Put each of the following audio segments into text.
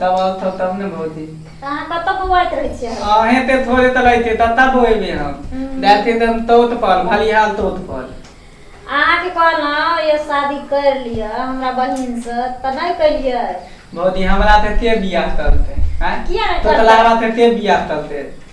तब आउ थौ तब ने भौजी तऽ अहाँ कतऽ बौआइत रहै छियै हरदम अहें ते थोड़े तऽ लैते ततऽ बोएबे हम डालते तऽ हम तोत पाल भलिहाल तोत पाल अहाँके कहलहुँ यौ शादी करि लिअ हमरा बहिनसँ तऽ नहि केलियै भौजी हमरा तऽ के बियाह करतै आँय किया नहि करतै? तोतलाबा तऽ के बियाह करतै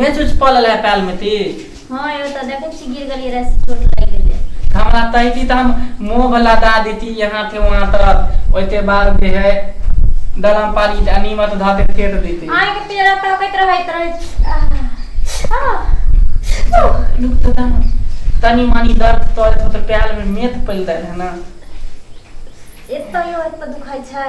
मैच उच पड़ल है पैल में ती हाँ यो तो देखो छी गिर गली रस चोट लग गेले हमरा तैती त हम मोह भला दा देती यहाँ थे वहाँ तक ओते बार भी है दलम पारी त अनिमत धाते फेट देती आए के पेरा तो कहत रहत रहे आह, आह, लुक त दा तनी मानी दर्द तोर तो त पैल में मेथ पल दे है ना एतो यो एतो दुखाई छै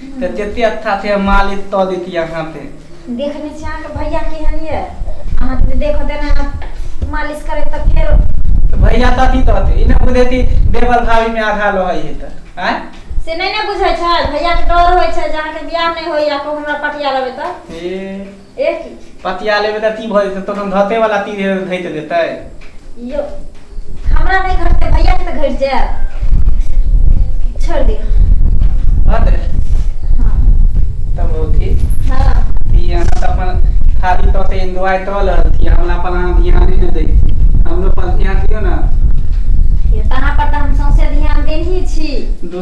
तऽ जते अच्छा छै मालिश कऽ देती अहाँ पे देखने छी अहाँके भैया केहन ये अहाँ तऽ देखो देना मालिश करे तऽ फेर तऽ भैया तथी तऽ होते ई ना बुझेती देवर भाभी में आधा लहै है तऽ आय से नहि ने बुझै छै भैया के डर होइ छै जे अहाँके बियाह नहि होइया को हमरा पटिया लेबै तऽ ए ए की पतिया लेबे तऽ ती भऽ जेतै तखन घटे वाला ती घट देतै यो हमरा नहीं घटते भैया के तो घट जाए छोड़ दियो हँ दे हाँ तब हो थी हाँ ती अहाँ तऽ अपन खाली तौर पे एंजॉय कऽ रहल थी हमरा पर अहाँ ध्यान नहि दै छी हमरो पर ध्यान दियौ ने ये तहाँ पर तो हम सौंसे ध्यान देनी छी दू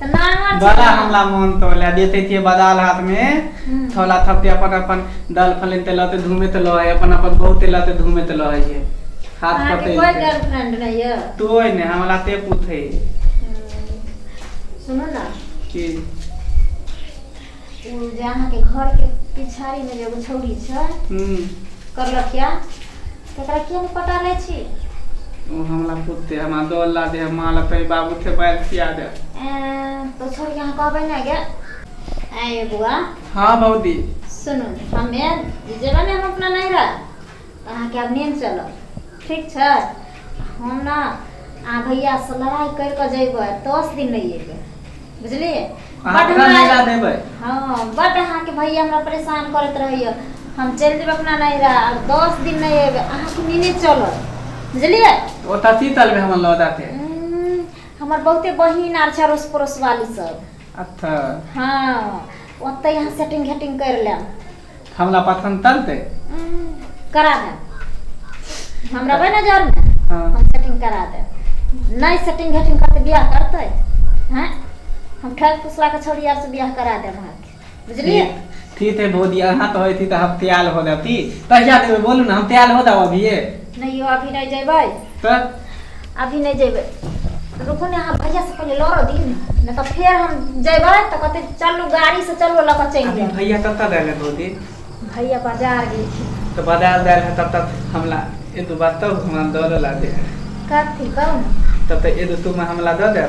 तऽ नांगर छै बड़ा ने। हमला मोन तो लए देते छियै बदाल हाथ मे हूँ थोला थपके अपन अपन दाल फले ते लऽ त धूमे त लऽ ह अपन अपन बहु ते लऽ त धूमे त लऽ ह हाथ अहाँके पते कोइ गर्लफ्रेंड नहि यऽ तोइ ने हमरा ते पूछे हम्म, सुनू ने की ओ जे अहाँके घरके पिछाड़ीमे जे एगो छौड़ी छै हूँ करलक क्या तकरा किया नहि पटा लै छी ओ हमरा पुते हमरा दौड़ ला दे माँ ला तोरी बाबू थे बैल खिया दे एं, तो छोड़ के अहाँ कहबै ने गे आए बुआ हाँ भौजी सुनू हमे जेबै ने हम अपना नैहरा तऽ अहाँके आब नेम चलत ठीक छै हम ने अहाँ भैयासँ लड़ाइ करि कऽ जयबै दस दिन नहि अयबै बुझलियै अहाँ बड्ड हमरा हमरा- नैरा देबै हँ बड्ड अहाँके भैया हमरा परेशान करैत रहैया हम चलि जेबै अपना नैहरा आब दस दिन नहि अयबै अहाँके नेने चलत बुझलियै ओ तऽ शीतल भी हमर लऽ देते उम्म, हमर बहुते बहिन आर छै अड़ोस पड़ोस वाली सब अच्छा हँ ओतै यहाँ सेटिंग घेटिंग करि लेब हमरा पसंद तलते करा दे हमरा बे नजर में हाँ। हम सेटिंग करा दे नहीं सेटिंग घेटिंग करते बियाह करते हैं हम ठग फुसला के छोड़ी यार से बियाह करा दे वहाँ के बुझलिए ठीक है भौजी अहाँ कहै छी तऽ हम तैयार हो जाती कहिया देबै बोलू ने हम तैयार हो जाउ अभिये नहीं अभी नहीं जेबै त अभी नहीं जेबै रुकू ने अहाँ भैया से पहिले लड़ दी न तऽ फेर हम जेबै तऽ कहते चलू गाड़ी से चलू लऽ कऽ चलि अभी जायब भैया कत गए भौजी भैया बाजार गेल छी तो बाजार गए है तब तक हमला ये तो बात तब हमरा दौड़ ला दे कथी कहू ने तब तक ये तो तुम हमला दे दे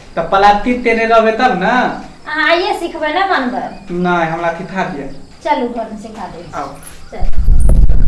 तऽ पलाती तेरे रहबे तब ने अहाँ आइए सिखबै ने बनबै नहि हमरा सिखा दिअ चलू घरमे सिखा दै छी आउ। चलू